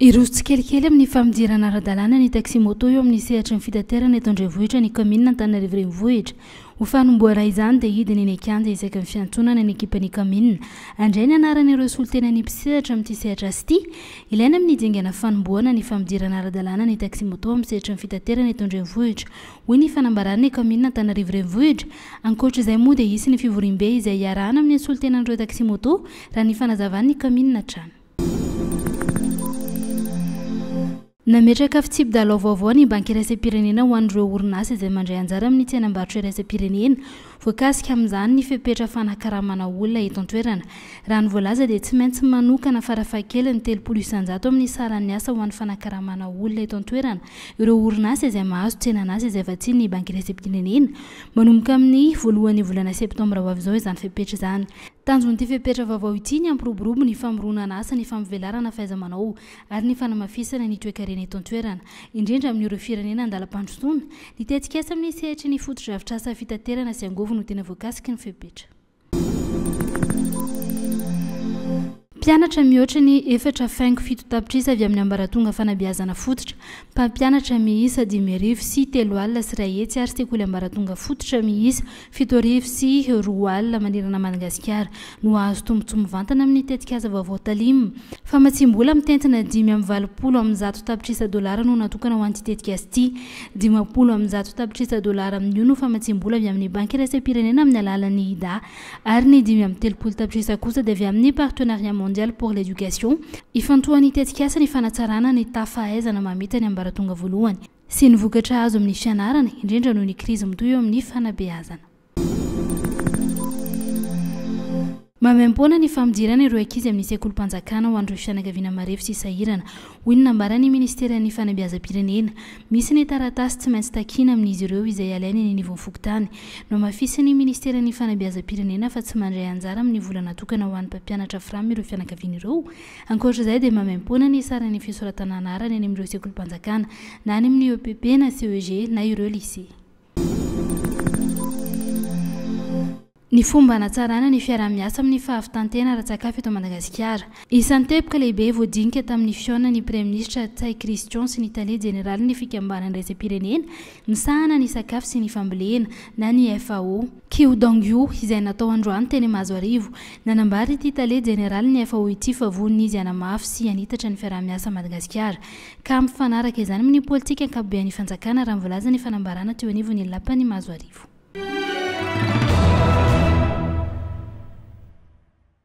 Hiroso tsikelikely amin'ny famodirana ara-dalàna ny taxi-moto eo amin'ny sehatry ny fitaterana eto an-drenivohitra ny kaominina Antananarivo Renivohitra. Ho fanombohana izany dia hidina eny an-kianja isaky ny fiantsonana ny ekipan'ny kaominina. Handray ny anarana ireo solontenan'ny mpisehatra amin'ity sehatra azy ity. Ilaina amin'ny dingana fanombohana ny famodirana ara-dalàna ny taxi-moto amin'ny sehatry ny fitaterana eto an-drenivohitra, hoy ny fanambaran'ny kaominina Antananarivo Renivohitra. Ankoatra izay moa dia hisy ny fivoriambe izay hiarahana amin'ny solontenan'ireo taxi-moto, raha ny fanazavan'ny kaominina hatrany. Nametraka fitsipi-dalao vaovao ny Banky iraisam-pirenena ho an'ireo orinasa izay mandray anjara amin'ny tsenam-barotra iraisam-pirenena. Voakasika amin'izany ny fepetra fanakaramana olona eto an-toerana. Raha ny voalaza dia tsy maintsy manokana farafahakeliny telopolo isanjato amin'ny saran'ny asa ho an'ny fanakaramana olona eto an-toerana ireo orinasa izay mahazo tsenan'asa izay vatsian'ny Banky iraisam-pirenena manomboka amin'ny voalohan'ny volana septambra ho avy izao izany fepetra izany. Tanjon'ity fepetra vaovao ity ny hampiroborobo ny famoronana asa, ny famivelarana fahaiza-manao ary ny fanamafisana ny toekarena eto an-toerana, indrindra amin'ireo firenena an-dalam-pandrosoana. Ny tetikasa amin'ny sehatry ny fotodrafitrasa fitaterana sy angôvo no tena voakasiky ny fepetra. Mpianatra mihoatra ny efatra faingo fito tapitrisa avy amin'ny ambaratonga fanabeazana fototra, mpampianatra miisa dimy arivo sy telo alina sy iray hetsy ary sekoly ambaratonga fototra miisa fito arivo sy roa alina manerana an'i Madagasikara no hahazo tombontsoa mivantana amin'ny tetikasa vaovao Talim. Famatsiam-bola mitentina dimy amby valopolo amin'ny zato tapitrisa dolara no natokana ho an'ity tetikasa ity. Dimampolo amin'ny zato tapitrisa dolara amin'io no famatsiam-bola avy amin'ny Banky Iraisam-pirenena amin'ny alalan'ny IDA. ary ny dimy amby telopolo tapitrisa kosa dia avy amin'ny Partenariat Mondial pour l'Education. Ifantohan'ny tetikasa ny fanatsarana ny taha fahaizana mamita ny ambaratonga voalohany sy ny vokatra azo amin'ny fianarana, indrindra noho ny krizy mitohy eo amin'ny fanabeazana. Maimaimpoana ny fampidirana ireo ankizy amin'ny sekolim-panjakana ho an'ireo fianakaviana marefo sy sahirana. Hoy ny nambaran'ny minisiteran'ny fanabeazam-pirenena, misy ny taratasy tsy maintsy takiana amin'izy ireo izay alainy eny anivon'ny fokontany. Nohamafisin'ny minisiteran'ny fanabeazam-pirenena fa tsy mandray anjara amin'ny vola natokana ho an'ny mpampianatra fram ireo fianakaviana ireo. Ankoatr'izay dia maimaimpoana ny saran'ny fisoratana anarana eny amin'ireo sekolim-panjakana na any amin'ny EPP na CEG na ireo lycée. Ny fomba hanatsarana ny fiaraha-miasa amin'ny fahavitan-tena ara-tsakafo eto Madagasikara. Isan'ny teboka lehibe voadinika tamin'ny fihaonana ny Praiminisitra Ntsay Christian sy ny Tale Jeneralin'ny Fikambanana Iraisam-pirenena misahana ny Sakafo sy ny Fambolena na ny FAO, Qiu Dongyu, izay natao androany teny Mahazoarivo. Nanambara ity Tale Jeneralin'ny FAO ity fa vonona izy hanamafy sy hanitatra ny fiaraha-miasa Madagasikara ka mifanaraka izany amin' ny pôlitika ankapobean' ny fanjakana, raha ny voalazan' ny fanambarana teo anivon' ny Lapan' i Mazoarivo.